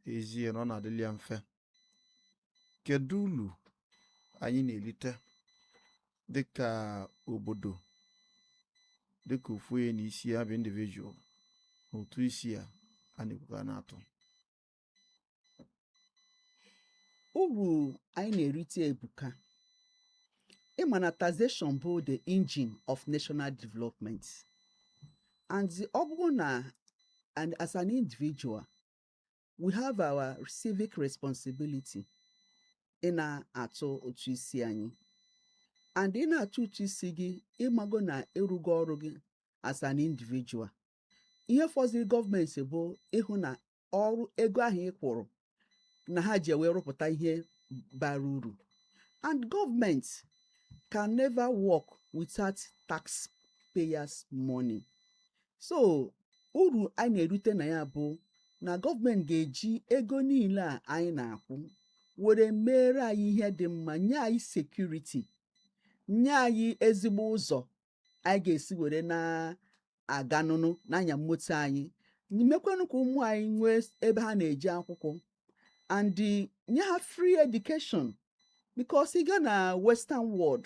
ezie na ọ na-adịlị ya mfe kedu ulu anyị na-erite dịka obodo dịka ofu onye na isi ya bụ individual na ụtụ isi a a na-ekwu ka a na-atụ uru anyị na-erite ebuka ị ma na taxation bụ the engine of national development and ọ bụrụ na and as an individual we have our civic responsibility ị na-atụ ụtụ isi anyị and ị na-atụ ụtụ isi gị ị mago na ị rụgo ọrụ gị as an individual ihe fọziri gọọmenti bụ ịhụ na ọrụ ego ahụ ị kwụrụ na ha ji wee rụpụta ihe bara uru and government can never work without taxpayers money so uru anyị na-erute na ya bụ na gọọmenti ga-eji ego niile a anyị na-akwụ were meere anyị ihe dị mma nye anyị security nye anyị ezigbo ụzọ anyị ga-esi were na-aga nụnụ na-anya moto anyị mekwanụ ka ụmụ anyị nwee ebe ha na-eje akwụkwọ and nye ha free education because ị gaa na western world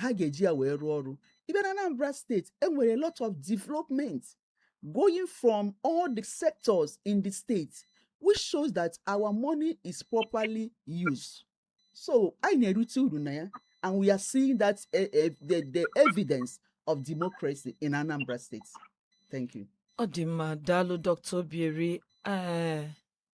ha ga-eji ya wee rụọ ọrụ even na Anambra State e nwere a lot of development going from all the sectors in the state which shows that our money is properly used so anyị na-erite uru na ya and we are seeing that uh, uh, the, the evidence of democracy in Anambra State. Thank you. ọ dị mma daalụ dr obieri ee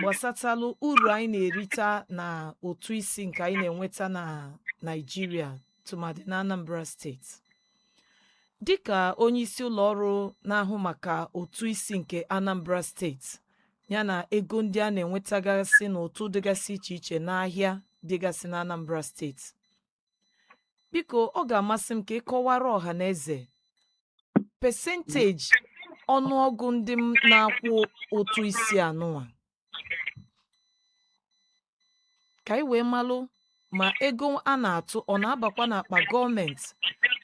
gbasatalụ uru anyị na-erita na ụtụ isi nke anyị na-enweta na Naịjirịa tụmadị na Anambra steeti dịka onye isi ụlọ ọrụ na-ahụ maka ụtụ isi nke Anambra steeti yana ego ndị a na-enwetagasị n'ụtụ dịgasị iche iche n'ahịa dịgasị na Anambra steeti biko ọ ga-amasị m ka ị kọwara ọha na eze pesenteji ọnụọgụ ndị na-akwụ ụtụ isi anụnwa ka anyị wee malụ ma ego a na-atụ ọ na-abakwa n'akpa gọọmenti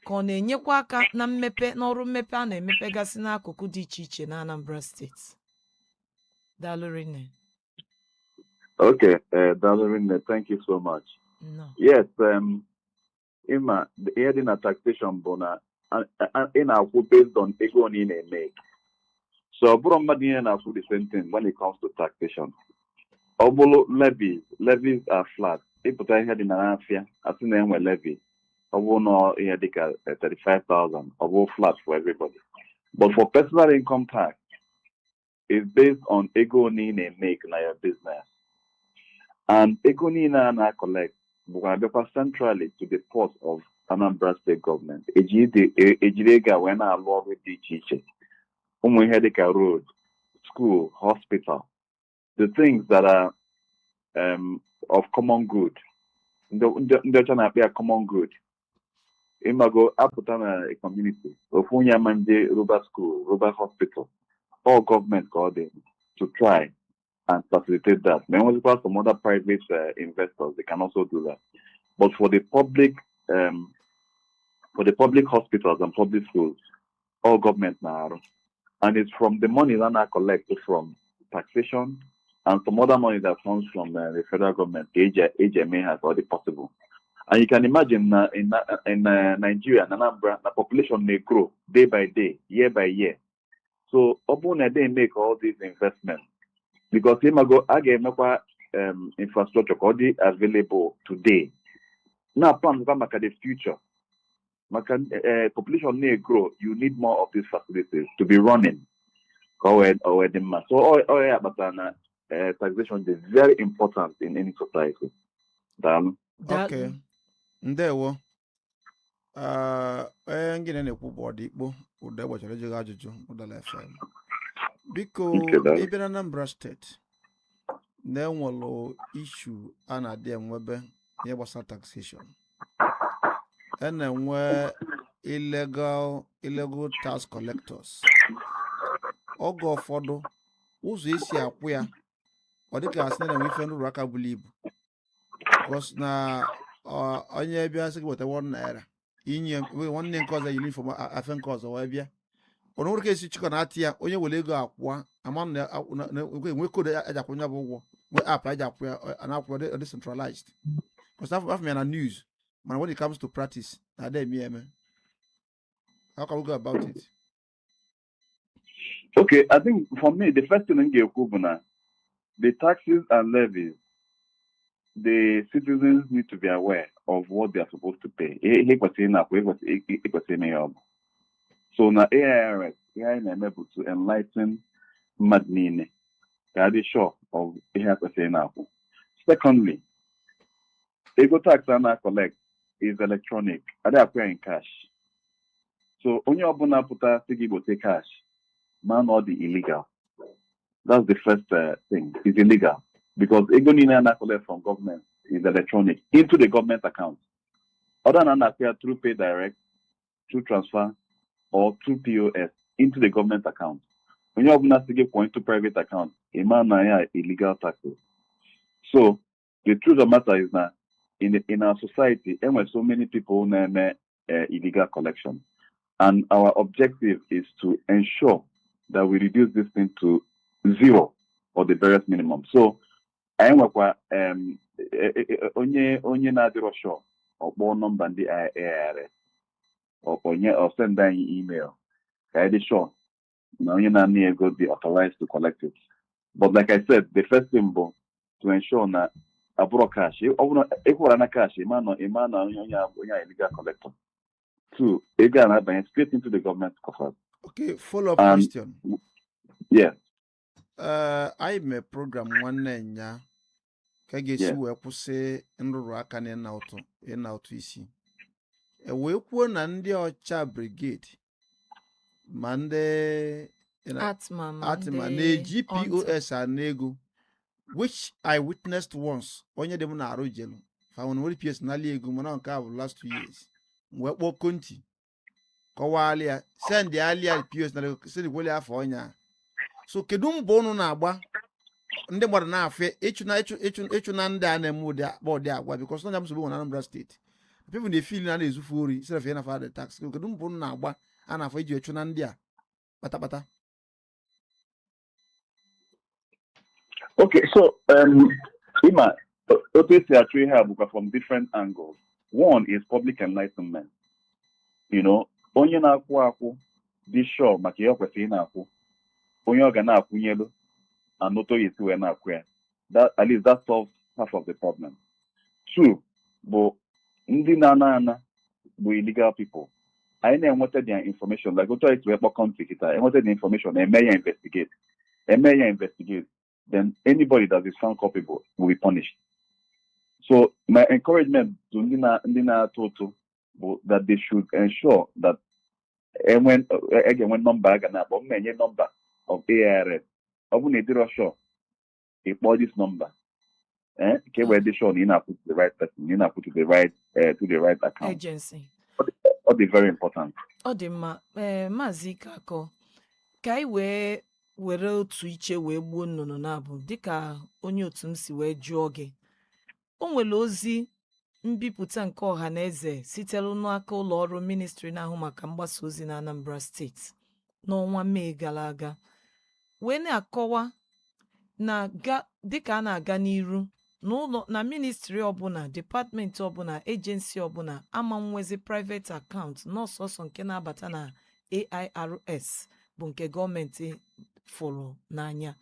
ka ọ na-enyekwa aka na mmepe n'ọrụ mmepe a na-emepegasị n'akụkụ dị iche iche na Anambra steeti daalụ Okay, uh, daalụ rinne, thank you so much. Nnọọ. Yes, um, ị ma ihe dị na taxation bụ na a- a- ị na-akwụ based on ego one ị na-emake. So ọ bụrọ mmadụ niile na-akwụ the same thing when it comes to taxation. Ọ bụrụ levies, levies are flat. Ị pụta ihe dị na n'afịa, a sị na e nwe levy. Ọ bụrụ na ihe dị ka eh, 35,000, ọ bụrụ flat for everybody. But for personal income tax, it's based on ego one ị na-emake na your business and ego niile a na-acollect bụkwa abịakwa centrally to the pot of Anambra State Government e jiri ego a wee na-alụ ọrụ dị iche iche ụmụ ihe dịka road school hospital the things that are um, of common good ndị ọcha na-akpọ ya common good ị mago a pụta na community ofu onye ama eje rụba school rụba hospital ọ government ka ọ dị to try and facilitate that ma e nwezikwa some other private uh, investors they can also do that but for the public um, for the public hospitals and public schools ọ government na-arụ and it's from the money that a na-acollect from taxation and some other money that comes from uh, the federal government ka e ji e ji eme ihe ka ọ dị possible and you can imagine na in, na- in uh, Nigeria na Anambra na population na-egrow day by day year by year so ọ bụrụ na they make all these investments because ị mago a ga-emekwa um, infrastructure ka ọ dị available today na-aplankwa maka the future maka eh, population na-egrow you need more of these facilities to be running ka o wee o wee dị mma so ọ ọ ya kpatara na eh, taxation dị very important in any society daalụ Daalụ. Okay. ndewo Ah, onye ngịnị na-ekwu bụ Odikpo ụda gbachara ejighị ajụjụ Udala FM biko Nke daalụ. ị bịa na Anambra State na e nwere issue a na-adị enwebe ihe gbasara taxation a na-enwe illegal illegal tax collectors oge ụfọdụ ụzọ e si akwụ ya ọ dịka a sị na enwe ife nrụrụ aka buru ibu because na ọ- onye bịa sị gị weta 1 naira i nye nwanne nke ọzọ eyiri uniform afe nke ọzọ wee bịa o nwere ka e si chịkọ na atị ya onye were ego akwụọ a ma na akwụ- na- na- ekwe- nwee code a- e ji akwụ nya bụ ụgwọ nwee app e ji akwụ ya ọ- a na-akwụ ya ọ dị centralized because a fụọ a fụọ ya na news mana when it comes to practice na a da eme ya eme how can we go about it Okay, I think for me, the first thing m ga-ekwu bụ na, the taxes and levies, the citizens need to be aware of what they are supposed to pay. Ihe ha kwesịrị ịna-akwụ, ha kwesịrị- ha- ha kwesịrị ịma ihe ọ bụ. So na AIRS, ihe anyị na-eme bụ to enlighten mmadụ niile ka ha dị sure of ihe ha kwesịrị ịna-akwụ. Secondly, ego tax a na-akọlekt is electronic adịghị akwụ ya in cash so onye ọbụna pụta sị gị gbote cash ma na ọ dị illegal that's the first uh, thing is illegal because ego niile a na-akọlekt from government is electronic into the government account either a na-akwụ ya through pay direct, through transfer, or through POS into the government account. Onye ọbụna sị gị kwụọ into private account, ị ma na ya illegal taxes. So the truth of matter is na in, in our society enwere so many people na-eme uh, illegal collection and our objective is to ensure that we reduce this thing to zero or the barest minimum so anyị nwekwa um, e- e- e- onye onye na-adịrọ sure ọ kpọọ nọmba ndị AIRS ọkpọnye ọ send anyị email ka anyị dị sure na onye na-ana gị ego dị authorized to collect it but like I said the first thing bụ to ensure na ọ bụrọ cash ọ bụrụ ị kwụrụ na cash ịma na ịma na onye onye onye a illegal collector two ego a na-abanye straight into the government coffers okay follow up Um, question yes ee anyị mee program nwanne nyaa ka a ga-esi Yeah. wee kwụsị nrụrụ aka na ịna ụtụ ịna ụtụ isi e wee kwuo na ndị OCHA Brigade ma ndị ARTMA na-eji pos ana ego which i witnessed once onye dị m n'arụ jelu fa were pos nalị ego mana nke a bụ last two years wee kpọọ Konti kọwalị ya sendịalị ya pos na sendịkwalị ya afa onye a so kedu mbọ ụnụ na-agba ndị mmadụ na-afụ ya ịchụna ịchụ ịchụ ịchụna ndị a na-eme ụdị akpa ụdị agwa bikọs na nsogbu e nwere na Anambra steeti people na-efil na a na-ezu fa ori instead of ịna fa the tax kedu mbọ unu na-agba a na-afụ iji chụna ndị a kpatakpata Okay, so um, ịma, otu esi achụ ihe a bụkwa from different angles. One is public enlightenment. You know, onye na-akwụ akwụ dị sure maka ihe ọ kwesịrị ịna-akwụ onye ọ ga na-akwụnyelu and otu ọ ya-esi wee na-akwụ ya that at least that solves half of the problem two bụ ndị na-ana ana bụ illegal people anyị na-enweta their information like otu anyị si wee kpọọ Konti kịta enweta the information e mee ya investigate e mee ya investigate then anybody that is found culpable will be punished. So my encouragement to ndị na ndị na-atụ ụtụ bụ that they should ensure that enwe e ga-enwe nọmba a ga na-akpọ m na-enye nọmba of AIRS ọ bụ na ị dịrọ sure ị kpọọ this number eh, ka e wee dị sure na ị na-akwụ the right person na ị na-akwụ the right eh, to the right account agency Ọ dị- ọ dị very important ọ dị mma ee maazị ikakọ ka anyị wee were otu iche wee gbuo nnụnụ naabọ dịka onye otu m si wee jụọ gị o nwere ozi mbipụta nke ọha na eze sitere n'aka ụlọ ọrụ ministri na-ahụ maka mgbasa ozi na Anambra steeti n'ọnwa Mee gara aga wee na-akọwa na dịka a na-aga n'iru na ministri ọbụla depatmenti ọbụla ejensi ọbụla ama nwezi private account na ọ sọọsọ nke na-abata na AIRS bụ nke gọọmenti fụrụ n'anya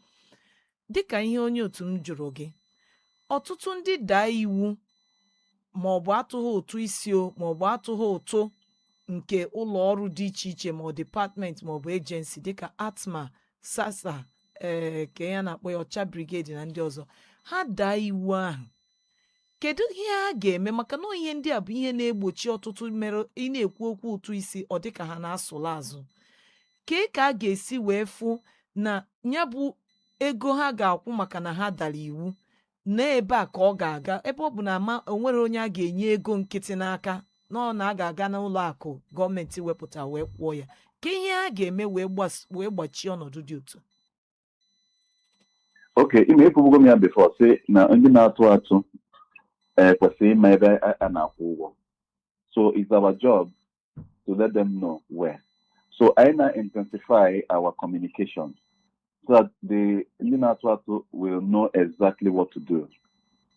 Dịka ihe onye otu m jụrụ gị, ọtụtụ ndị daa iwu ma ọ bụ atụghị ụtụ isi o ma ọ bụ atụghị ụtụ nke ụlọ ọrụ dị iche iche ma ọ dịpatmenti ma ọ bụ ejensi dịka ARTMA SASA ee kee ihe a na-akpọ ya OCHA Brigade na ndị ọzọ ha daa iwu ahụ kedu ihe a ga-eme maka na ihe ndị a bụ ihe na-egbochi ọtụtụ mere ị na-ekwu okwu ụtụ isi ọ dịka ha na-asụla azụ kee ka a ga-esi wee fụ na ya bụ ego ha ga-akwụ maka na ha dara iwu na ebe a ka ọ ga-aga ebe ọ bụ na ama onwere onye a ga-enye ego nkịtị n'aka na ọ na a ga-aga n'ụlọ akụ gọọmenti wepụta wee kwụọ ya kee ihe a ga-eme wee gbas- wee gbachie ọnọdụ dị otu okay ị ma ekwubugo m ya before sị na ndị na-atụ atụ eh, kwesịrị ịma ebe a a na-akwụ ụgwọ so it's our job to let them know where so anyị na-intensify our communication so that the ndị na-atụ atụ will know exactly what to do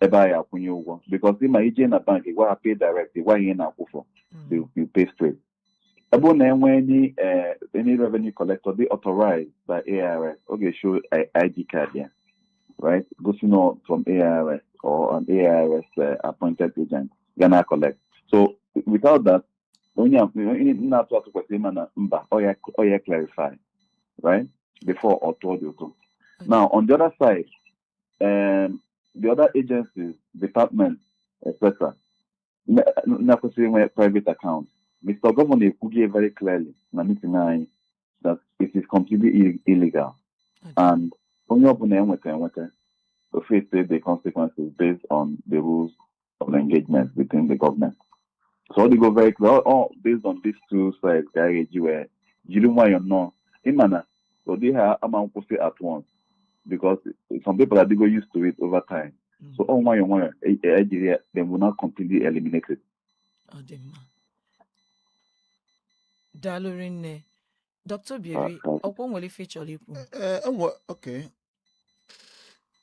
ebe a ya-akwụnye ụgwọ because ị ma ị jee na bank gwa ha pay direct gwa ihe ị na-akwụ for they will pay straight ebe ọ na-enwe any eh, any revenue collector dị authorized by AIRS ọ ga-eshow I- ID card ya right gosi na ọ from AIRS or an AIRS eh, appointed agent ga na collect so without that onye a- onye na-atụ atụ kwesịrị ịma na mba ọ ya ọ ya clarify right before ọ tụọ the ụtụ now on the other side um, the other agencies departments etc na-ekwesịghị inwe private account Mr. Governor ekwugo ya very clearly na meeting anyị that it is completely ill- illegal and onye ọbụla enweta enweta ọ face the consequences based on the rules of engagement within the government. So ọ dịgo very clear all, all based on these two sides ka a ga-eji wee jiri nwayọọ nnọọ ịma na so ụdị ihe a ama nkwụsị at once because some people adịgo used to it over time mm. so ọ nwayọọ nwayọọ ejiri ya they will now completely eliminate it. ọ dị mma daalụ rinne Dr Obieri ọ kwa o nwere ife ị chọrọ ikwu eh, eh, ok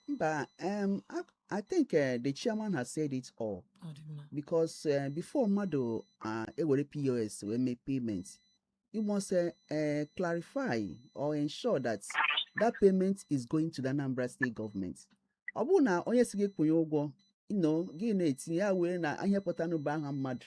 But um, I, I think uh, the chairman has said it all because uh, before mmadụ uh, ewere POS wee mee payment you must uh, uh, clarify or ensure that that payment is going to the Anambra state government. ọ bụrụ na onye sị gị kwụnye ụgwọ ino gị na-etinye ya wee na ahịa pụtanụba aha mmadụ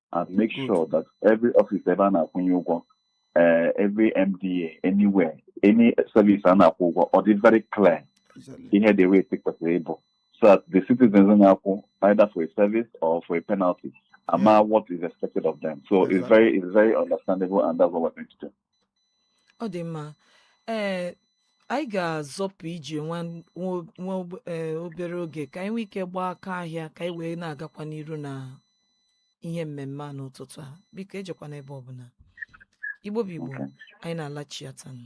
and make sure that every office ebe a na-akwụnye ụgwọ eh, every MDA anywhere any service a na-akwụ ụgwọ ọ dị very clear Exactly. ihe the rate kwesịrị ịbụ so that the citizens na-akwụ either for a service or for a penalty ama what is expected of them so it's Exactly. very it's very understandable and that's what we're going to do ọ dị mma ee anyị ga-azọpụ ije nwa nwa- nwa ob- ee, obere oge ka anyị nwee ike gbaa aka ahịa ka anyị wee na-agakwa n'iru na ihe mmemme a n'ụtụtụ a biko ejekwana ebe ọbụla Igbo bụ Igbo anyị na-alachiatanụ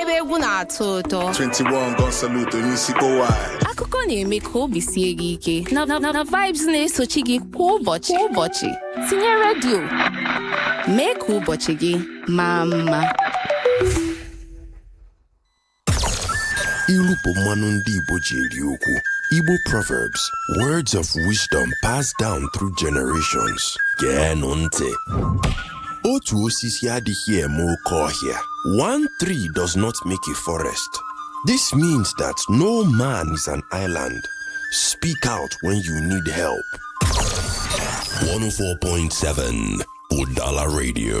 ebe egwu na-atọ ụtọ 21 gun salute onye isi kpọwai akụkọ na-eme ka obi sie gị ike na vibes na-esochi gị kwa ụbọchị kwa ụbọchị tinye redio mee ka ụbọchị gị maa mma ilu bụ mmanụ ndị Igbo ji eri okwu Igbo Proverbs words of wisdom passed down through generations geenụ ntị otu osisi adịghị eme oke ọhịa one tree does not make a forest this means that no man is an island speak out when you need help 104.7 Udala Radio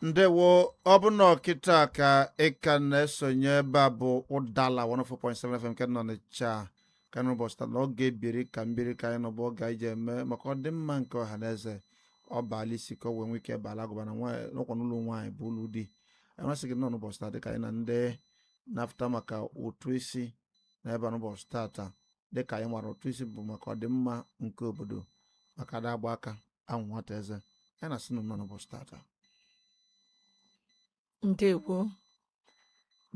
ndewo ọ bụ na ọ kịta ka ị ka na-esonye ebe a bụ Udala 104.7 FM nke nọ n'Ọnịcha ka n'ụbọchị taa na oge biri ka m biri ka anyị nọ bụ oge anyị ji eme maka ọdịmma nke ọha na eze ọ baala isi ka o wee nwee ike baala agụba na ọ kwa n'ụlọ nwaanyị bụ ụlọ di anyị na-asị gị nnọọ n'ụbọchị taa dịka anyị na ndị na-afụta maka ụtụ isi nọ ebe a n'ụbọchị tata dịka anyị maara ụtụ isi bụ maka ọdịmma nke obodo maka a da agba aka ahụ nwata eze anyị na-asị unu nnọọ n'ụbọchị tata ndewo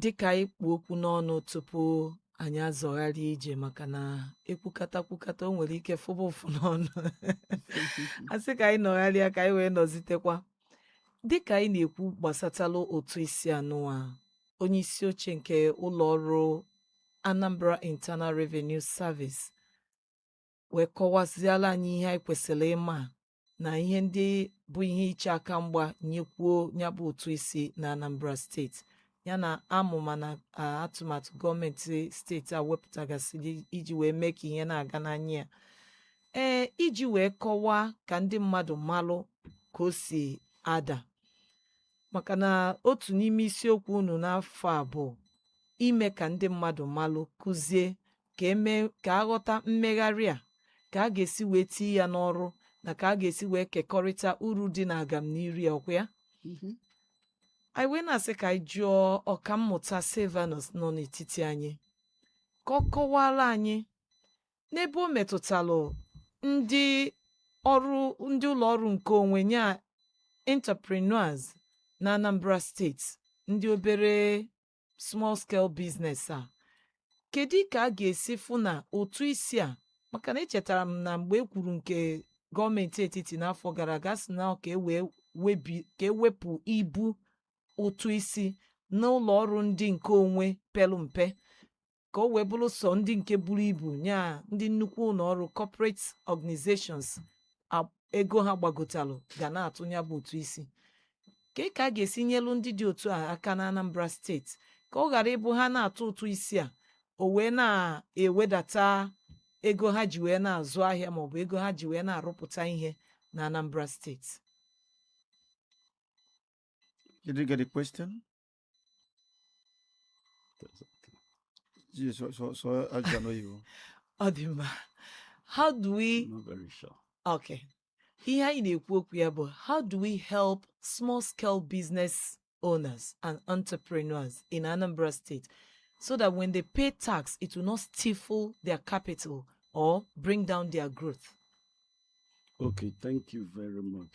dịka anyị kpu okwu n'ọnụ tupu anyị azọgharị ije maka na e kwukata kwukata o nwere ike fụba ụfụ n'ọnụ a sị ka anyị nọgharịa ka anyị wee nọzitekwa dịka anyị na-ekwu gbasatalụ ụtụ isi anụwa onye isi oche nke ụlọ ọrụ Anambra Internal Revenue Service wee kọwaziala anyị ihe anyị kwesịrị ịma na ihe ndị bụ ihe iche aka mgba nyekwuo ya bụ ụtụ isi na Anambra steeti ya na amụma na atụmatụ gọọmenti steeti a wepụtagasịrị iji wee mee ka ihe na-aga n'anya ya ee iji wee kọwaa ka ndị mmadụ malụ ka o si ada maka na otu n'ime isiokwu unu n'afọ a bụ ime ka ndị mmadụ malụ kụzie ka eme ka aghọta mmegharị a ka a ga-esi wee tie ya n'ọrụ na ka a ga-esi wee kekọrịta uru dị na agamniru ọkwa ya mhm. anyị wee na-asị ka anyị jụọ ọkammụta Silvanus nọ n'etiti anyị ka ọ kọwala anyị n'ebe o metụtalụ ndị ọrụ ndị ụlọ ọrụ nke onwe nya entrepreneurs na Anambra steeti ndị obere small scale business a kedu ka a ga-esi fụ na ụtụ isi a maka na echetara m na mgbe e kwuru nke gọọmenti etiti n'afọ gara aga sị na ka e wee webi ka ewepụ ibu ụtụ isi n'ụlọ ọrụ ndị nke onwe pelu mpe ka o wee bụrụ sọ ndị nke buru ibu nya ndị nnukwu ụlọ ọrụ corporate organizations ego ha gbagotalụ ga na-atụ ya bụ ụtụ isi ka ka a ga-esi nyelu ndị dị otu a aka na Anambra steeti ka ọ ghara ịbụ ha na-atụ ụtụ isi a o wee na-ewedata ego ha ji wee na-azụ ahịa maọbụ ego ha ji wee na-arụpụta ihe na Anambra steeti Did you get the question? Ji sọ sọ sọ ajụjụ n'oyibo. Ọ dị mma. How do we Not very sure. Okay. Ihe anyị na-ekwu okwu ya bụ how do we help small scale business owners and entrepreneurs in Anambra State so that when they pay tax it will not stifle their capital or bring down their growth. Okay, thank you very much.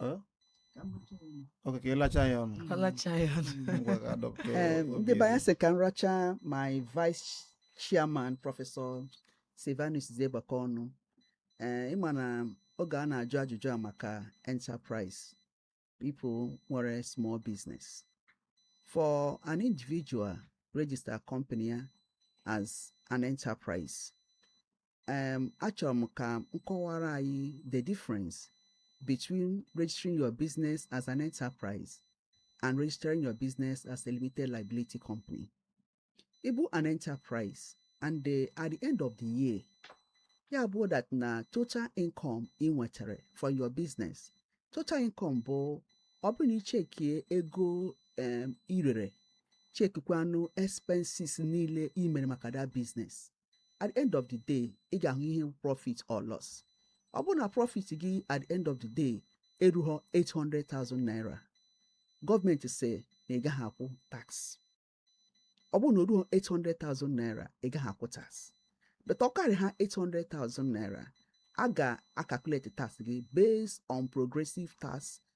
Eh? okay ka ịlacha ya ọnụ alacha ya ọnụ ngwa ka adọpụta Ee, obi ndị be anyị elu. sị ka m racha my vice chairman prọfesọ silvanus zegbaka ọnụ ee ị ma na oge a na-ajụ ajụjụ a maka enterprise people nwere small business for an individual register company ya as an enterprise um, achọrọ m ka m kọwara anyị the difference between registering your business as an enterprise and registering your business as a limited liability company. Ị bụ an enterprise and the, uh, at the end of the year, ya bụ that na total income ị nwetara for your business. Total income bụ ọ bụrụ na ichekie ego um, i rere chekikwanụ expenses niile i mere maka that business at the end of the day ị ga-ahụ ihe profit or loss ọ bụrụ na profit gị at the end of the day erughọ 800,000 naira gọọmenti sị na ị gaghị akwụ tax ọ bụrụ na o ruo 800,000 naira ị gaghị akwụ tax but ọ karịa 800,000 naira a ga-acalculate tax gị based on progressive tax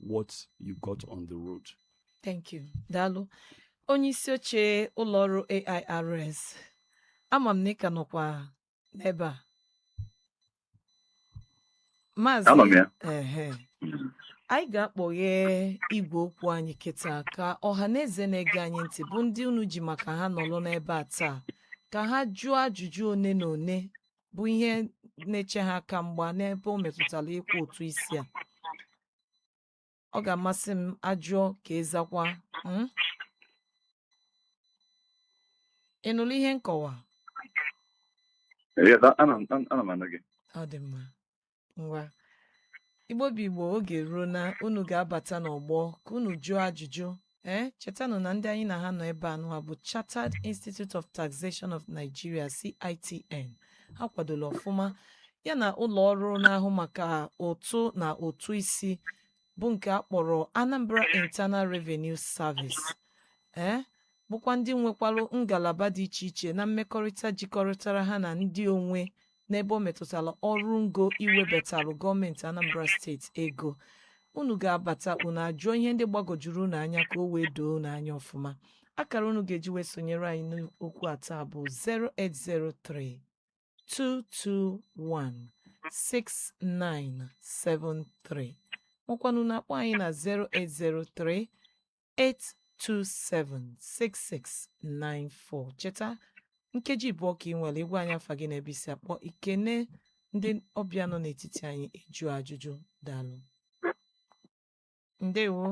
what you got on the road. Thank you. Daalụ. Onye isi oche ụlọ ọrụ AIRS. Ama m na ị ka nọkwa n'ebe a. Maazị. Anọ m ya. Ehe. Mm. Anyị ga-akpọghe igwe okwu anyị kịta ka ọha na eze na-ege anyị ntị bụ ndị unu ji maka ha nọrọ n'ebe a taa ka ha jụọ ajụjụ one na one bụ ihe na-eche ha aka mgba n'ebe o metụtara ịkwụ ụtụ isi a ọ ga-amasị m a jụọ ka ị zakwaa hmm? ị nụrụ ihe nkọwa ọ dị mma ngwa igbo bụ igbo oge eruona unu ga-abata n'ọgbọ ka unu jụọ ajụjụ ee eh, chetanụ na ndị anyị na ha nọ ebe a nụwa bụ Chartered Institute of Taxation of Nigeria CITN ha kwadola ọfụma ya na ụlọ ọrụ na-ahụ maka ụtụ na ụtụ isi bụ nke a kpọrọ Anambra Internal Revenue Service ee eh, bụkwa ndị nwekwalụ ngalaba dị iche iche na mmekọrịta jikọrịtara ha na ndị onwe n'ebe o metụtara ọrụ ngo iwebatalụ gọọmenti Anambra steeti ego unu ga-abata unu ajụọ ihe ndị gbagojuru unu anya ka o wee doo unu anya ọfụma akara unu ga-eji wee sonyere anyị n'okwu a taa bụ 0803 221 6973 makwanụ unu akpọọ anyị na 0803 827 6694 cheta nkeji abụọ ka ị nwere ịgwa anyị afa gị na ebe i si akpọ ikene ndị ọbịa nọ n'etiti anyị ịjụ ajụjụ daalụ ndewo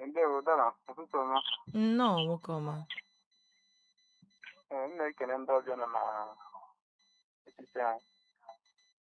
Ndewo Udala ụtụtụ ọma nnọọ nwoke ọma Ee, m na-ekele ndị ọbịa nọ na etiti anyị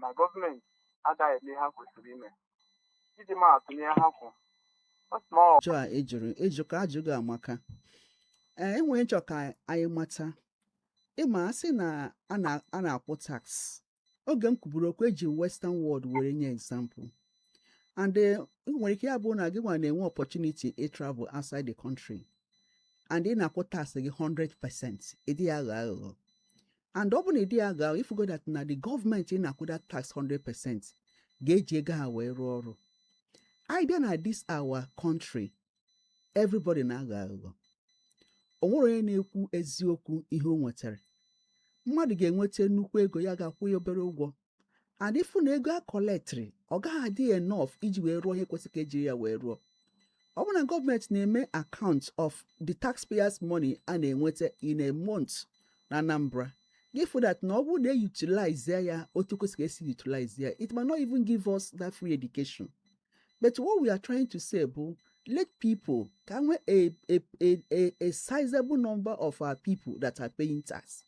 na gọọmenti agaghị eme ihe ha kwesịrị ime iji maa atụ n'ihe ha kwuru ọ sị na ọ ajụjụ a ị jụrụ ị jụka ajụjụ gị amaka ee e nwere ihe m chọ ka anyị mata ị ma a sị na a na- a na-akwụ tax oge m kwuburu okwu eji western world were nye example and eh, o nwere ike ya bụ na gị nwa na-enwe opportunity ị travel outside the country and ị na-akwụ tax gị 100 percent ị dịghị aghọ aghụghọ and ọ bụ na ịdị ya ga ị fụgo that na the gọọmenti na-akwụ that tax 100% ga-eji ego ha wee rụọ ọrụ anyị bịa na this our country everybody na-aghọ aghụghọ o nwere onye na-ekwu eziokwu ihe o nwetara mmadụ ga-enweta nnukwu ego ya ga-akwụ ya obere ụgwọ and ị fụ na ego a collectịrị ọ gaghị adị enough iji wee rụọ ihe kwesịrị ka ejiri ya wee rụọ ọ bụrụ na gọọmenti na-eme account of the taxpayers money a na-enweta in a month na Anambra gị fụ that na ọ bụrụ na e utilize ya otu kwesịrị esi utilize ya it may not even give us that free education but what we are trying to say bụ let people ka e nwee a a a a sizable number of our people that are paying tax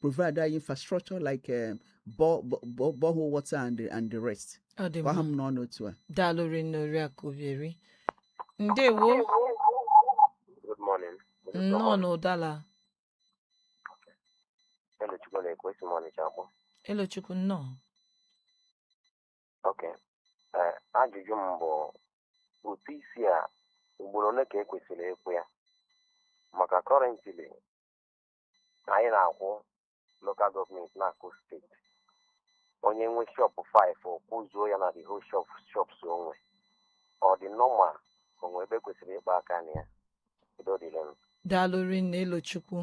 provide that infrastructure like um, bo- bo- bo- borehole water and the, and the rest ọ dị gwa ha mma m na ọ n'otu a daalụ rinne oriakụ obieri ndewo Good morning. nnọọ n'ụdala Elochukwu na-ekwu esi m Ọnịcha akpọ. elochukwu nnọọ Ok. Eh, ajụjụ m bụ ụtụ isi a ugboro ole ka e kwesịrị ịkwụ ya? Maka currently na anyị na-akwụ local gọọmenti na-akwụ steeti onye nwe shọpụ 5 ọ kwụzuo ya na the whole shop shops onwe ọ dị normal o nwe ebe e kwesịrị ịkpa aka na ya udo dịrị m daalụ rinne elochukwu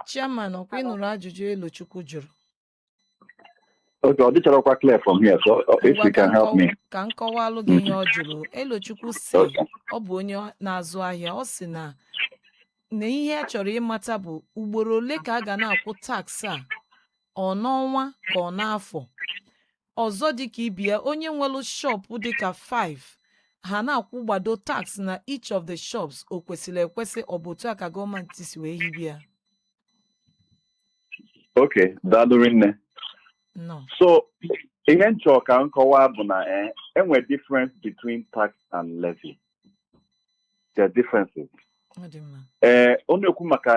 chairman ọkwa ị nụrụ ajụjụ elochukwu jụrụ Okay, ọ dịcharọkwa clear from here, so uh, if Ngwa you ka can help nkọwa- me. ka m kọwalụ gị ihe ọ jụrụ elochukwu sị Okay. ọ bụ onye na-azụ ahịa ọ sị na na ihe a chọrọ ịmata bụ ugboro ole ka a ga na-akwụ tax a ọ n'ọnwa ka ọ n'afọ ọzọ dị ka ibe ya onye nwere shọpụ dị ka 5 ha na-akwụ gbado tax na each of the shops o kwesịrị ekwesị ọ bụ otu a ka gọọmenti si wee hibe ya okay daalụ rinne no so ihe m chọrọ ka m kọwaa bụ na eh, e nwe difference between tax and levy there are differences ọ dị mma ee ọ na-ekwu maka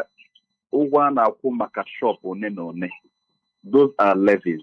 ụgwọ a na-akwụ maka shop one na one those are levies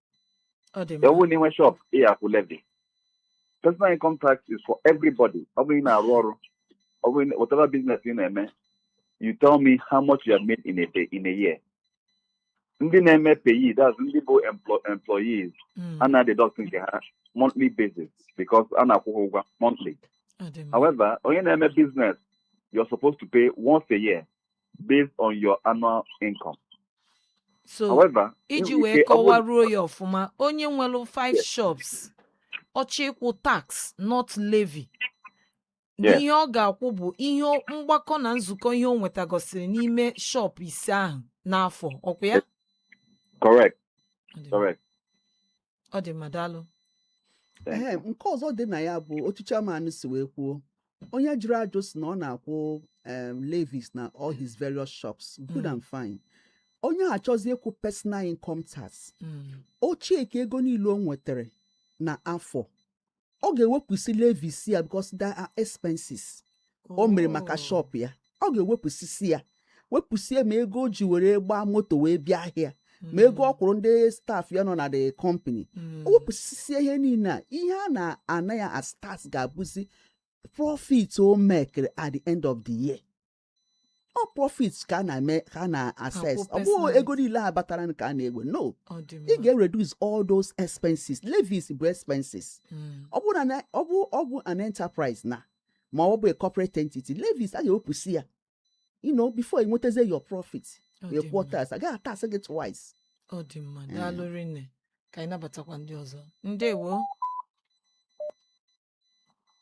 ọ dị mma ọ bụ na ị nwe shop ị ga-akwụ levy personal income tax is for everybody ọ bụrụ ị na-arụ ọrụ ọ bụrụ na- whatever business ị na-eme you tell me how much you have made in a day in a year ndị na-eme PAYE that's ndị bụ emplo- employees Mm, a na-deduct nke ha monthly basis because a na-akwụ ha ụgwọ monthly ọ dị mma however onye na-eme business you're supposed to pay once a year based on your annual income. so However, iji enwere wee ike- ọ bụrụ- kọwaruo ya ọfụma onye nwere five Yes. shops ọ chọọ ịkwụ tax not levy na Yes. ihe ọ ga-akwụ bụ ihe o- mgbakọ na nzukọ ihe o nwetagosiri n'ime shop ise ahụ n'afọ ọ kwa ya Yes. correct, correct. ọ dị mma daalụ Thank Ehe, you. nke ọzọ dị na ya bụ otu chairman si wee kwuo onye jụrụ ajụ sị na ọ na-akwụ em, levies na all his various shops good Mm. and fine onye a chọzi ịkwụ personal income tax Mm, o checkia ego niile o nwetere n'afọ ọ ga-ewepụsị levies ya because they are expenses o mere maka shop ya ọ ga-ewepụsịsị ya wepụsie ma ego o ji were gbaa moto wee bịa ahịa ma ego ọ kwụrụ ndị staff ya nọ na the company o wepụsisie ihe niile a ihe a na-ana ya as tax ga-abụzi profit o mekere at the end of the year ọ profit ka a na-eme ka a na-assess ọ bụghị ego niile a batara ka a na-ewe no ị ga-reduce all those expenses levies bụ expenses hmm. ọ bụ na ọ bụ ọ bụ an enterprise na ma ọ bụ a corporate entity levies a ga-ewepụsị ya you know before ị nwetazie your profit wee kwụọ tax a gaghị atax gị twice ọ dị mma eh. daalụ rinne ka anyị nabatakwa ndị ọzọ ndewo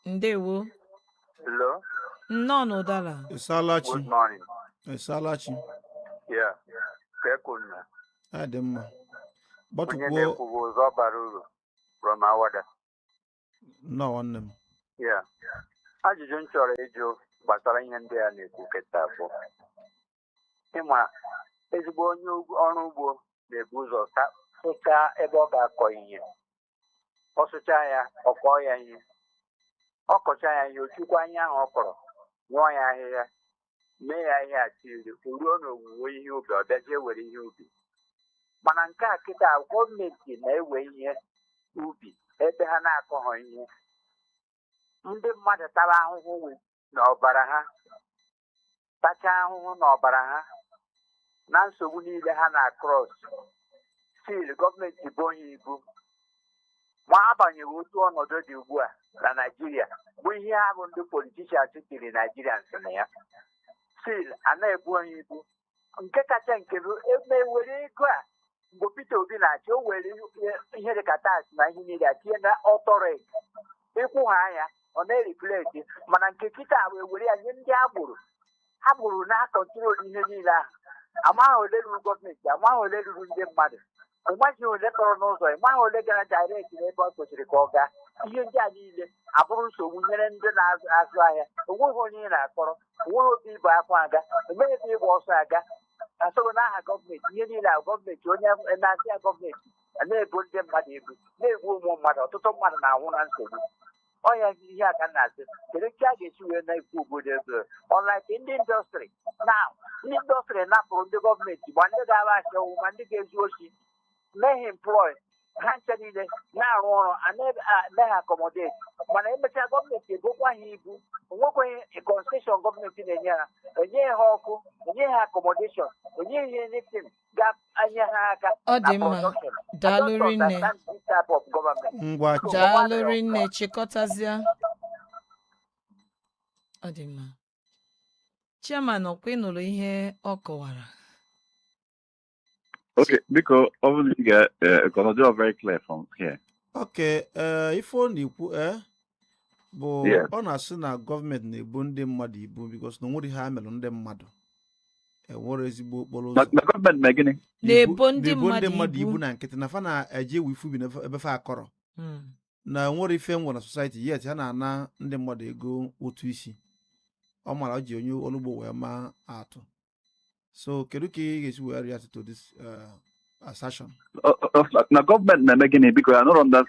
ndewo Hello. nnọọ na Ụdara ị saala chi Good morning. ị saala chi Yeah. Kee kwanụ. adị m mma Onye gbatụkwuo na-ekwu bụ ụzọ bara uru from Awada. nnọọ nwanne m Yeah. Ajụjụ m chọrọ ịjụ gbasara ihe ndị a na-ekwu kịta bụ ị ma ezigbo onye ọrụ ugbo na-ebu ụzọ sụchaa ebe ọ ga-akọ ihe ọ sụchaa ya ọ kọọ ya ihe ọ kọchaa ya ihe o chukwa ihe ahụ ọ kọrọ rụọ ya ahịhịa mee ya ihe atiri o ruo n'owuwe ihe ubi ọ bịazie were ihe ubi mana nke a kịta gọọmenti na-ewe ihe ubi ebe ha na-akọghọ ihe ndị mmadụ tara ahụhụ n'ọbara ha tachaa ahụhụ n'ọbara ha na nsogbu niile ha na-akrọs still gọọmenti bo onye ibu ma agbanyeghị otu ọnọdụ dị ugbu a na Naịjirịa bụ ihe ahụ ndị politician tiri Naịjirịa nsị na ya still a na-ebo onye ibu nke kacha nke bụ ebe were ego a mgbe Peter Obi na-achị o were ihe dị ka tax na ihe niile a tinye na authority ị kwụhaa nya ọ na-ereflect mana nke kịta wee were ya nye ndị agboro agboro na-akọntrol ihe niile ahụ amaghị ole ruru gọọmenti amaghị ole ruru ndị mmadụ ị maghị ole tọrọ n'ụzọ ị maghị ole gara direct n'ebe ọ kwesịrị ka ọ gaa ihe ndị a niile abụrụ nsogbu nyere ndị na-azụ ahịa onweghị onye ị na-akọrọ onweghị otu ị bu akwa aga enweghị ebe ị gba ọsọ aga asọrọ n'aha gọọmenti ihe niile a gọọmenti onye na-asị ya gọọmenti na-ebo ndị mmadụ ibu na-egbu ụmụ mmadụ ọtụtụ mmadụ na-anwụ na nsogbu ọnya ihe a ka na-asị kedu ka a ga-esi wee na-ekwu obodo ebe unlike ndị industry na ndị industry napụrụ ndị gọọmenti ma ndị ga-agba ashawo ma ndị ga-ezu oshi mee employ ha ncha niile na-arụ ọrụ a na-eme ha accommodate mana emechaa gọọmenti ebokwa ha ibu onwekwaghị concession gọọmenti na-enye ha enye ha ọkụ enye ha accommodation enye ha anything ga-enye ha aka Ọ dị mma. production. I Daalụ don't rinne. understand this type of government. ngwa daalụ rinne chịkọtazịa ọ dị mma chairman ọkwa ị nụrụ ihe ọ kọwara Okay, because obviously, uh, uh, gonna do a very clear from here. okay ee ife ọ na-ekwu ee bụ Yeah. ọ na-asị na gọọmenti na-ebo ndị mmadụ ibu because na onwerọ ihe ha melụ ndị mmadụ enwerọ ezigbo okporo ụzọ na gọọmenti mee gịnị Na-ebo ndị na-ebo ndị mmadụ mmadụ ibu. ibu na nkịtị na fa na-eje ewe ife ubi na ebe fa akọrọ Mm. na enwerọ ife e nwere na society yet ha na-ana ndị mmadụ ego ụtụ isi ọ mara o ji onye ọlụ ugbo wee maa atụ so kedu ka ị ga-esi wee react to this uh, assertion Ọ- ọ- ọ- na gọọmenti na-eme gịnị biko anụrọ m na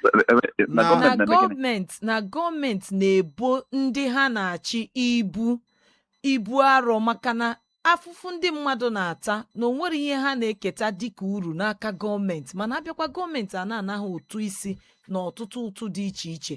na Na- gọọmenti na na-eme gịnị gọọmenti na gọọmenti na-ebo ndị ha na-achị ibu ibu arọ maka na afụfụ ndị mmadụ na-ata na onwerọ ihe ha na-eketa dịka uru n'aka gọọmenti mana abịakwa gọọmenti a na-ana ha ụtụ isi na ọtụtụ ụtụ dị iche iche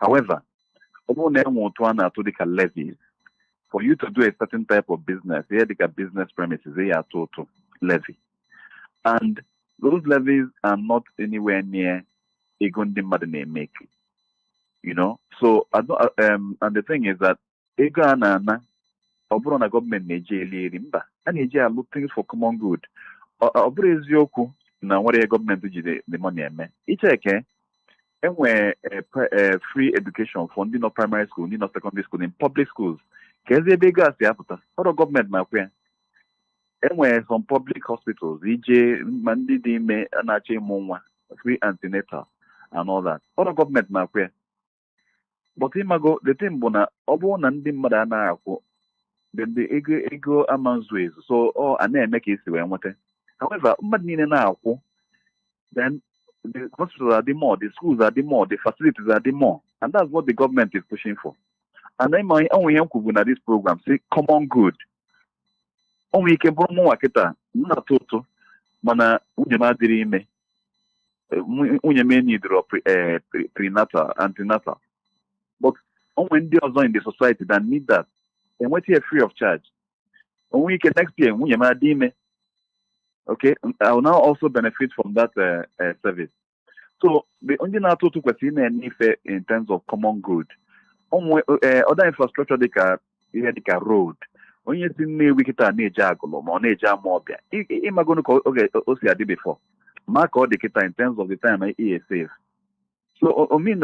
however ọ bụrụ na e nwee ụtụ a na-atụ dịka levies for you to do a certain type of business ihe dịka business premises ị ya atụ ụtụ levy and those levies are not anywhere near ego ndị mmadụ na-emeke you know so I don't, uh, um, and the thing is that ego a na-ana ọ bụrọ na gọọmenti na-eji eli eri mba a na-eji alụ things for common good ọ ọ bụrọ eziokwu na enwerọ ihe gọọmenti ji the- the money eme i checkie enwee eh, pre- eh, free education for ndị nọ primary school ndị nọ secondary school in public schools kezi ebe ego a si apụta ọrọ gọọmenti na-akwụ ya enwere some public hospitals i jee ma ndị dị ime na-achọ ịmụ nwa free antenatal and all that ọrọ gọọmenti na-akwụ ya but ịmago the thing bụ na ọ bụrụ na ndị mmadụ anaghị akwụ then the ego ego ama nzu ezu so a na-eme ka esi wee nweta however mmadụ niile na-akwụ then the hospitals adị more the schools adị more the facilities adị more and that's what the government is pushing for and then ma onwe ihe m kwubu na this program sị common good o nwere ike bụrụ mụnwa kịta m na-atụ ụtụ mana nwunye m adịrị ime Eh, nwu- nwunye m enidirọ prenatal antenatal but o nwere ndị ọzọ in the society that need that enweta ya free of charge o nwere ike next year nwunye m adị ime okay I will now also benefit from that eh, eh, service so ndị na-atụ ụtụ kwesịrị na-ene ife in terms of common good o nwe other infrastructure dịka ihe dịka road onye si Nnewi kịta na-eje Agụlụ ma ọ na-eje Amaọbịa ị magonu ka oge o si adị before ma ka ọ dị kịta in terms of the time e save so o mean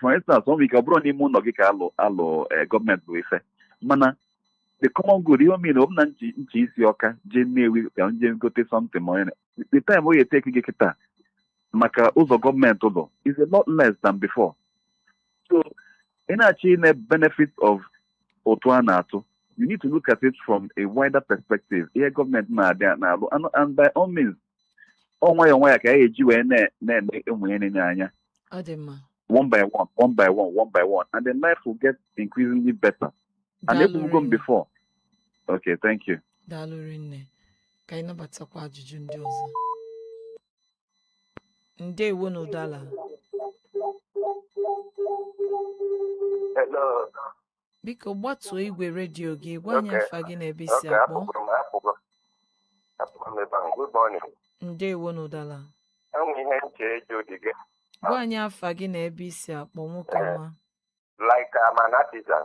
for instance o nwere ike ọ bụrụ n'ime ụnọ gị ka alụ alụ gọọmenti bụ ife mana the common good ihe o mean ọ bụ na na ị si Ọka jee Nnewi ka m je gote something ma the time o ga-eteki gị kịta maka ụzọ gọọmenti lụlụ is a lot less than before so ị na-achọ ine benefit of ụtụ a na-atụ you need to look at it from a wider perspective ihe gọọmenti na-adị na-alụ and- and by all means ọ nwayọọ nwayọọ ka e ji wee na- na-eme ụmụ ihe na-ene anya ọ dị mma one by one one by one one by one and then life will get increasingly better and ekwubugo m before okay thank you Daalụ rinne ka anyị nabatakwa ajụjụ ndị ọzọ ndewo na Udala biko gbatuo igwe redio gị gwa anyị afa gị na ebe i si akpọ ndewo na Udala gwa anyị afa gị na ebe i si akpọ nwoke ọma like I'm an artisan.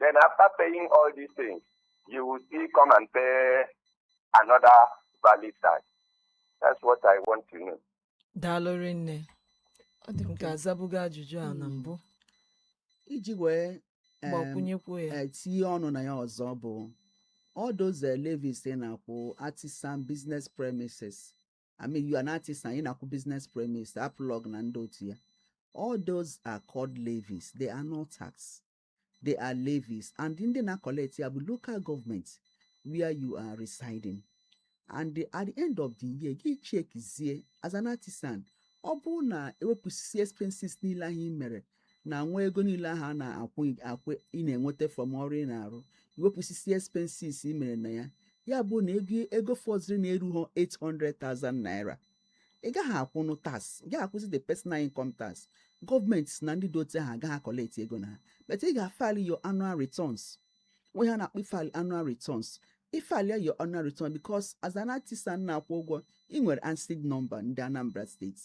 Then after paying all these things, you will still come and pay another valid tax. That's what I want to know. daalụ rinne ọ dị m ka azabugo ajụjụ a na mbụ iji wee em, gbakwunyekwu ya eh, tinye ọnụ na ya ọzọ bụ all those levies na-akwụ artisan business premises I mean you are an artisan ị na-akwụ business premise aplọg na ndị otu ya all those are called levies they are not tax they are levies and ndị na-collect ya bụ local government where you are residing and the, at the end of the year gị chekizie as an artisan ọ bụrụ na e wepụsịsị expenses niile ahụ ị mere na nwa ego niile ahụ a na-akwụ akwụ ị na-enweta from ọrụ ị na-arụ i wepụsịsị expenses i mere na ya ya bụ na ego ego fọzịrị na-erughọ 800,000 naira ị gaghị akwụnụ tax ị gaghị akwụzi the personal income tax gọọmenti sị na ndị dị otu ahụ agaghị akọlekti ego na ha but ị ga-file your annual returns nwe ihe a na-akpọ ịfile annual returns ịfile your annual return because as an artisan na-akwụ ụgwọ ị nwere ANSSID nọmba ndị Anambra steeti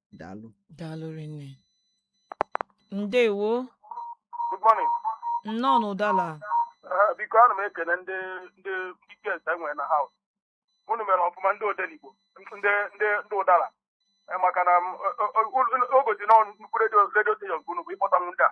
daalụ daalụ rinne ndewo Good morning. nnọọ n'ụdala Eh, biko ana m ekele ndị ndị ndị guests e nwere na house unu mere ọfụma ndị odenigbo ndị ndị ndị ụdala Eh, maka na m, o- o- o- o gosi na nnukwu redio redio steshọn nke unu bụ ịkpọtanwu ndị a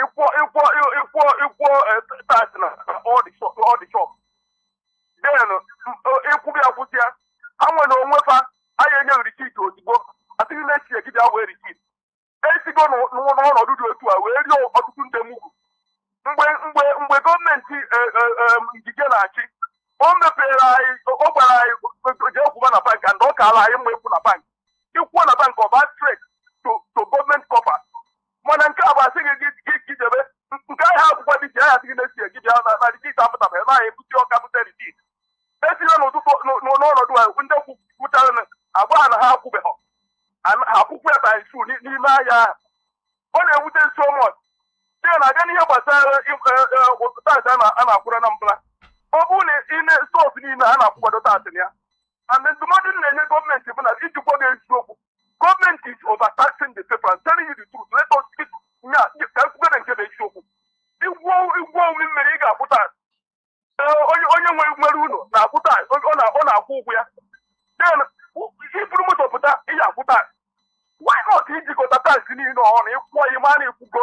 ịkwụọ ịkwụọ ịkwụọ ịkwụọ tax na all the shop all the shop then ịkwụbụ ya kwụsị ya ha nwere onwe fa anaghị enye risit ozugbo asị gị na echi gị bịa wee risit esigo n'ụ- n'ụ- n'ọnọdụ dị otu a wee rie ọtụtụ ndị mugu mgbe mgbe mgbe gọọmenti eh, eh, eh, Ngige na-achị o mepere anyị ọ gwara anyị jee kwụba na bank and ọ kaala anyị mma ịkwụ na bank ịkwụọ na bank ọ baa straight to to gọọmenti coffer mana nke a bụ asị gị gị- gị gị jebe nke ahịa akwụkwọ ndị isi ahịa sị gị na echi gị bịa na na risit apụtaba ebe ahụ ebusi ọka bute risit esila n'ụtụtụ n- n- n'ọnọdụ a ndị kwụ- kwụchara na agwa ha na ha akwụbeghọ An- ha akwụkwa ya times two n'ime ahịa ahụ ọ na-ewute so much dị na abịa n'ihe gbasara taasị a na-akwụrụ n'Anambra ọ bụrụ na ị na-esọs niile a na-akwụkwado taasị na ya and ndụmọdụ m na-enye gọọmenti bụ na iji gwa gị eziokwu Government is overtaxing the people. I'm telling you the truth. Let us speak. Nya, ka ekwugere nke bụ eziokwu. I gwuo i gwuo omi mmiri ị ga-akwụ tax eh, onye onye nwere nwere ụlọ na-akwụ tax ọ na- ọ na-akwụ ụgwọ ya. Then u- iburu moto pụta ị ga-akwụ tax. Why not ijikọta tax niile ọnụ ịkwụọ ya ma na ị kwụgo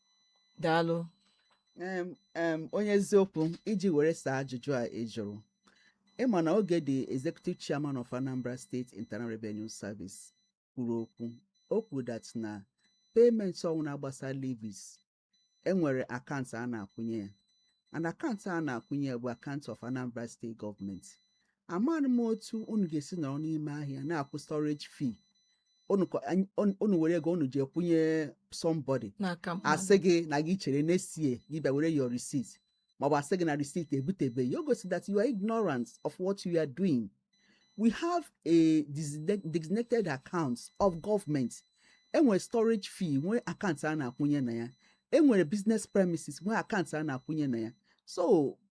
daalụ Em, em, onye eziokwu iji were saa ajụjụ a ị jụrụ ịma na oge the executive chairman of anambra state internal revenue service kwuru okwu o kwuru that na payment ọnwụna gbasara levies enwere akaụntụ a na-akwụnye ya and akaụntụ a na-akwụnye ya bụ akaụntụ of anambra state gọọmenti amaghị m otu unu ga-esi nọrọ n'ime ahịa na-akwụ storage fee unu kọ- anyị- unu- unu were ego unu jee kwụnye somebody n'aka mmadụ. asị gị na gị chere n'esie gị bịa were your receipt maọbụ asị gị na receipt ebutebeghị o gosi that you are ignorant of what you are doing we have a designa- designated account of government enwere storage fee nwee akaụntụ a na-akwụnye na ya enwere business premises nwee akaụntụ a na-akwụnye na ya so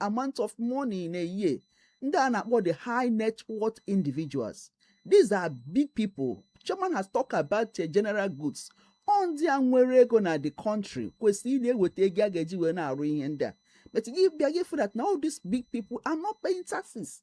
amount of money in a year ndị a na-akpọ the high net worth individuals these are big people chairman has talked about the general goods ọ ndị a nwere ego na the country kwesịrị ị na-eweta ego a ga-eji wee na-arụ ihe ndị a but gị bịa gị fụ that na all these big people are not paying taxes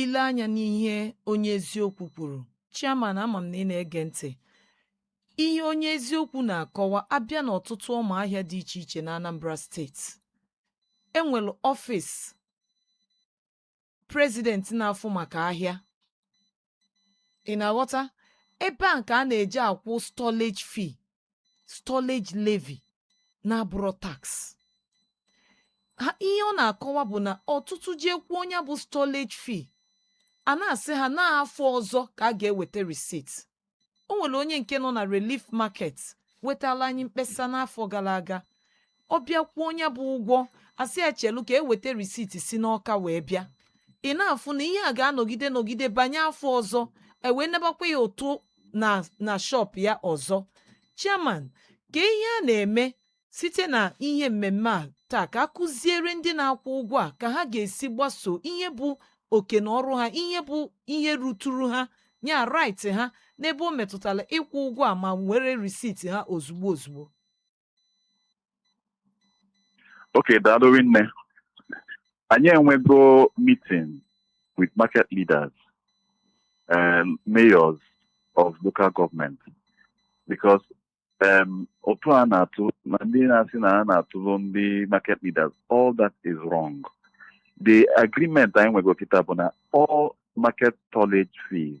Ile anya n'ihe onye eziokwu kwuru, Chairman ama m na ị na-ege ntị. Ihe onye eziokwu na-akọwa abịa n'ọtụtụ ọma ahịa dị iche iche na Anambra steeti. E nwere ọfịs prezident na-afụ maka ahịa. Ị na-aghọta? Ebe a ka a na-eje akwụ stallage fee stallage levy na-abụrọ tax ihe ọ na-akọwa bụ na ọtụtụ jee kwụọ nya bụ stallage fee a na-asị ha n'afọ ọzọ ka a ga-eweta receipt o nwere onye nke nọ na relief market wetala anyị mkpesa n'afọ gara aga ọ bịa kwụọ nya bụ ụgwọ a sị ya chelu ka e weta risiti si n'Ọka wee bịa ị na-afụ na ihe a ga-anọgide nọgide banye afọ ọzọ e wee nabakwa ya ụtụ na shọp ya ọzọ chairman ka ihe a na-eme site na ihe mmemme a taa ka a kụziere ndị na-akwụ ụgwọ a ka ha ga-esi gbaso ihe bụ oke na ọrụ ha ihe bụ ihe ruturu ha nya rait ha n'ebe o metụtara ịkwụ ụgwọ a ma were risiti ha ozugbo ozugbo Okay, daalụ rinne. Anyị enwego meeting with market leaders and mayors of local government because um, ụtụ a na-atụ na ndị na-asị na a na-atụrụ ndị market leaders all that is wrong. The agreement anyị nwego kịta bụ na all market stallage fees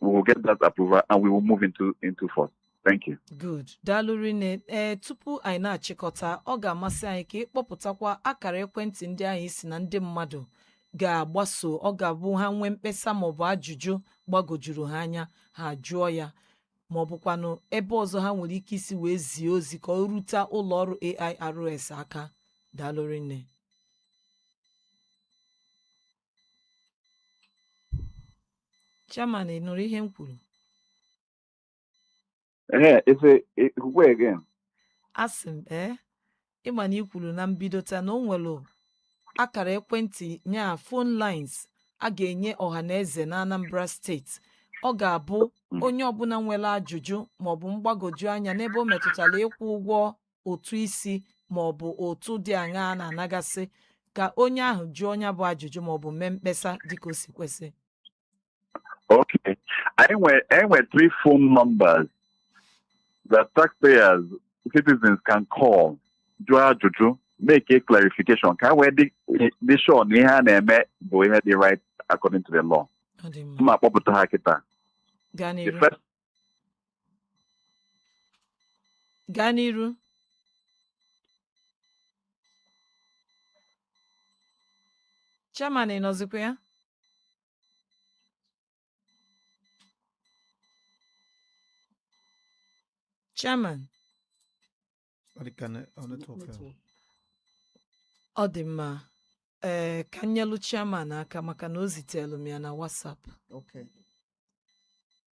we will get that approval and we will move into into force. Thank you. Good. Daalụ rinne. Ee, tupu anyị na-achịkọta, ọ ga-amasị anyị ka ị kpọpụtakwa akara ekwentị ndị anyị sị na ndị mmadụ ga-agbaso. Ọ ga-abụ ha nwee mkpesa maọbụ ajụjụ gbagojuru ha anya, ha jụọ ya. Ma ọ bụkwanụ ebe ọzọ ha nwere ike isi wee zie ozi ka o rute ụlọ ọrụ AIRS aka. Daalụ rinne. Chairman, ị nụrụ ihe m kwuru? Ee, efe ekwukwe again. Asị m, ee, ị ma na i kwuru na mbido taa na o nwere akara ekwentị nya phone lines a ga-enye ọha na eze na Anambra steeti. Ọ ga-abụ hmm. onye ọbụla nwere ajụjụ maọbụ mgbagwoju anya n'ebe o metụtara ịkwụ ụgwọ ụtụ isi ma ọ bụ ụtụ dị aṅaa a na-anagasị ka onye ahụ jụọ nya bụ ajụjụ ma ọ bụ mee mkpesa dịka o si kwesị Okay. Anyị nwe, anyị nwe three phone numbers that taxpayers, citizens can call, jụọ ajụjụ, make a clarification. Ka anyị wee dị sure na ihe a na-eme bụ ihe dị right according to the law. ọ dị mma M ma-akpọpụta ha kịta. gaa The n'iru first gaa n'iru chairman ị nọzikwa ya chairman ọ dị mma ee ka m nyelụ chairman aka maka na o zitelu m ya na WhatsApp Okay.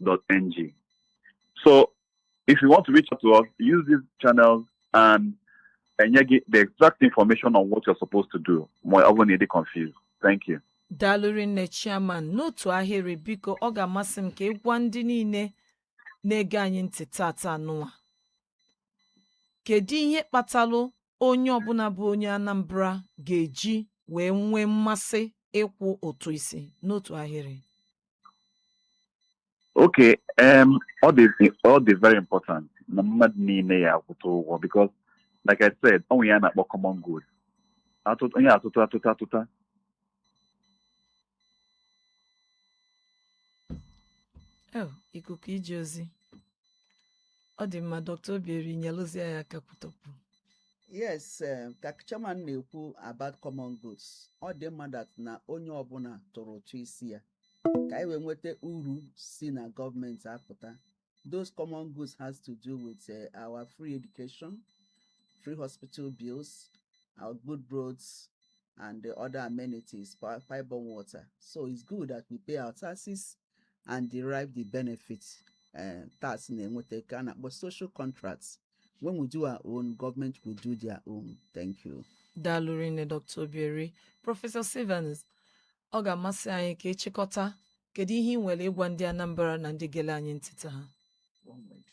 airs.an.gov.ng. So if you want to reach out to us, use these channels and and you get the exact information on what you're supposed to do. ma ọ bụrụ na ị dị confused. Thank you. daalụ rinne chairman n'otu ahịrị biko ọ ga-amasị m ka ị gwa ndị niile na-ege anyị ntị tata nụwa kedu ihe kpatalụ onye ọbụla bụ onye anambra ga-eji wee nwee mmasị ịkwụ ụtụ isi n'otu ahịrị Okay, um, ọ dị, ọ dị very important. Na mmadụ niile ya-akwụta ụgwọ because, like I said, o nwe ihe a na-akpọ common good. Atụtụ, onye atụtụ atụta atụta. Oh, ikuku ije ozi. ọ dị mma dọkta obieri nyelụzie ya aka kwutọpụ yes eh, ka chairman na-ekwu about common goods ọ dị mma that na onye ọbụla tụrụ ụtụ isi ya ka anyị wee nweta uru si na gọọmenti apụta those common goods has to do with eh, our free education free hospital bills our good roads and the other amenities pi- pipe-borne water so it's good that we pay our taxes and derive the benefits uh, tax na-enweta ka a na-akpọ social contracts when we do our own government will do their own thank you daalụ rinne dr obieri prọfesọ stevens ọ ga-amasị anyị ka ịchịkọta kedu ihe ị nwere ịgwa ndị anambra na ndị gele anyị ntị taa One minute.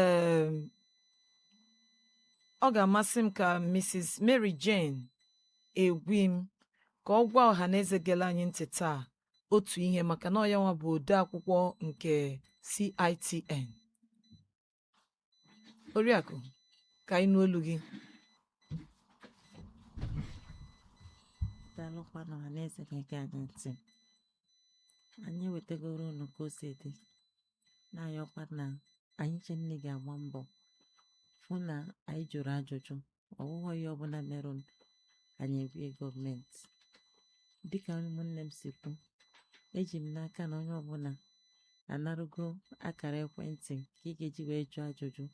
um ọ ga-amasị m ka Mrs. Mary Jane Egwim ka ọ gwa ọha na eze gele anyị ntị taa otu ihe maka na ọ yanwa bụ ode akwụkwọ nke CITN oriakụ ka anyị nụ olu gị daalụkwanụ ọha na eze gere anyị ntị anyị wetagoro unu ka o si dị na-ayọkwa na anyị ncha niine ga-agba mbọ fụ na anyị jụrụ ajụjụ ọwụghọ ihe ọbụla merụ anyị ebie gọọmenti dịka ụmụnne m si kwu eji m n'aka na onye ọbụla anarụgo akara ekwentị ka ị ga-eji wee jụọ ajụjụ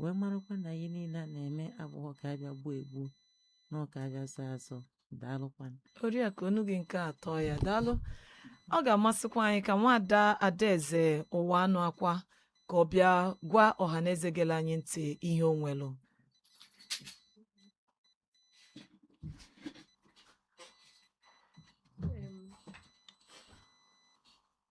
wee marakwa na ihe niile a na-eme abụghọ ka a bịa gbuo egbuo na ọ ka a bịa zọọ azọ daalụkwanụ oriakụ onu gị nke atọ ya daalụ ọ ga-amasịkwa anyị ka nwada adaeze ụwanụakwa ka ọ bịa gwa ọha na eze gele anyị ntị ihe o nwelụ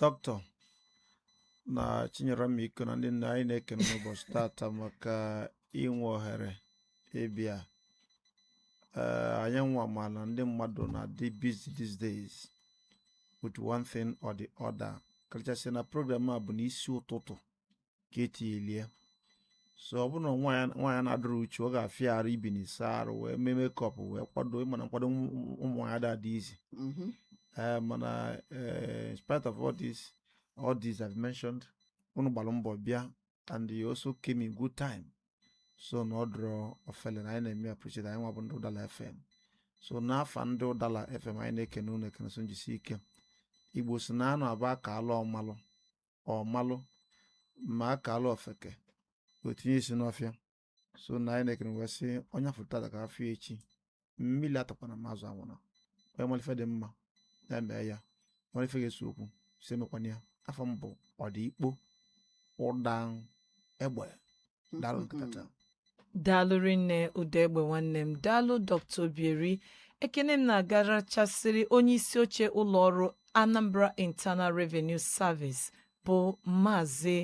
doctor na chinyere omiko na ndị nna anyị na-ekene n'ụbọsị tata maka inwe ohere ịbịa ee anyị nwa ma na ndị mmadụ na-adị busy these days with one thing or the other karịchasị na program a bụ n'isi ụtụtụ ka e tilie so ọ bụrụ na nwaanyị na-adịrọ uchu ọ ga-afịa arụ ibini saa arụ wee mee makeup wee kwado mana nkwado ụmụ nwaanyị ada adị easy mhm. eh, mana eh, in spite of all this all this I've mentioned unu gbalụ mbọ bịa and you also came in good time so na ọ dịrọ ofele na anyị na-eme appreciate anyị nwa bụ ndị ụdala fm so n'afa ndị ụdala fm anyị na-ekene unu ekene so njisi ike igbo sị na ọ na-abụ a kaalụ ọmalụ ọ malụ ma a kaalụ ofeke o tinye isi n'ọfịa so na anyị na-ekene wee sị onye a fụ tata ka a fụ ya echi mmili atakwana ma azụ anwụna onye malụ ife dị mma ya mee ya malụ ife ga-ese okwu sị emekwana ya afa m bụ ọdịkpo ụdaegbe daalụ nke tata daalụ rinne ụdaegbe nwanne m daalụ dr obieri ekene m na-agarachasịrị onye isi oche ụlọ ọrụ anambra internal revenue service bụ maazị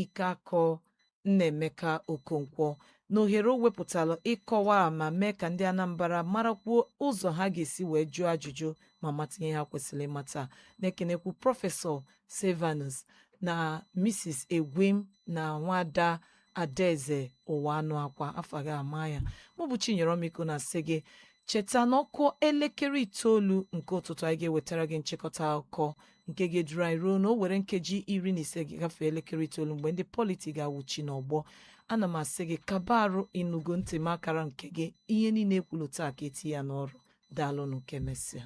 ikeakọ nnaemeka okonkwo na ohere o wepụtara ịkọwa ma mee ka ndị anambra marakwuo ụzọ ha ga-esi wee jụọ ajụjụ ma mata ihe ha kwesịrị ịmata na-ekenekwu prọfesọ Silvanus na Mrs. Egwim na nwada Adaeze Ụwanụakwa afọ gị ama ya mụ bụ Chinyere Omiko na-asị gị cheta na ọ kụọ elekere itoolu nke ụtụtụ anyị ga-ewetara gị nchịkọta akụkọ nke ga-eduru anyị ruo na o were nkeji iri na ise ji gafee elekere itoolu mgbe ndị politi ga-awụchi n'ọgbọ ana m asị gị kaba arụ ịnụgo ntị m akara nke gị ihe niile e kwulu taa ka e tinye ya n'ọrụ daalụ nụ ka e mesịa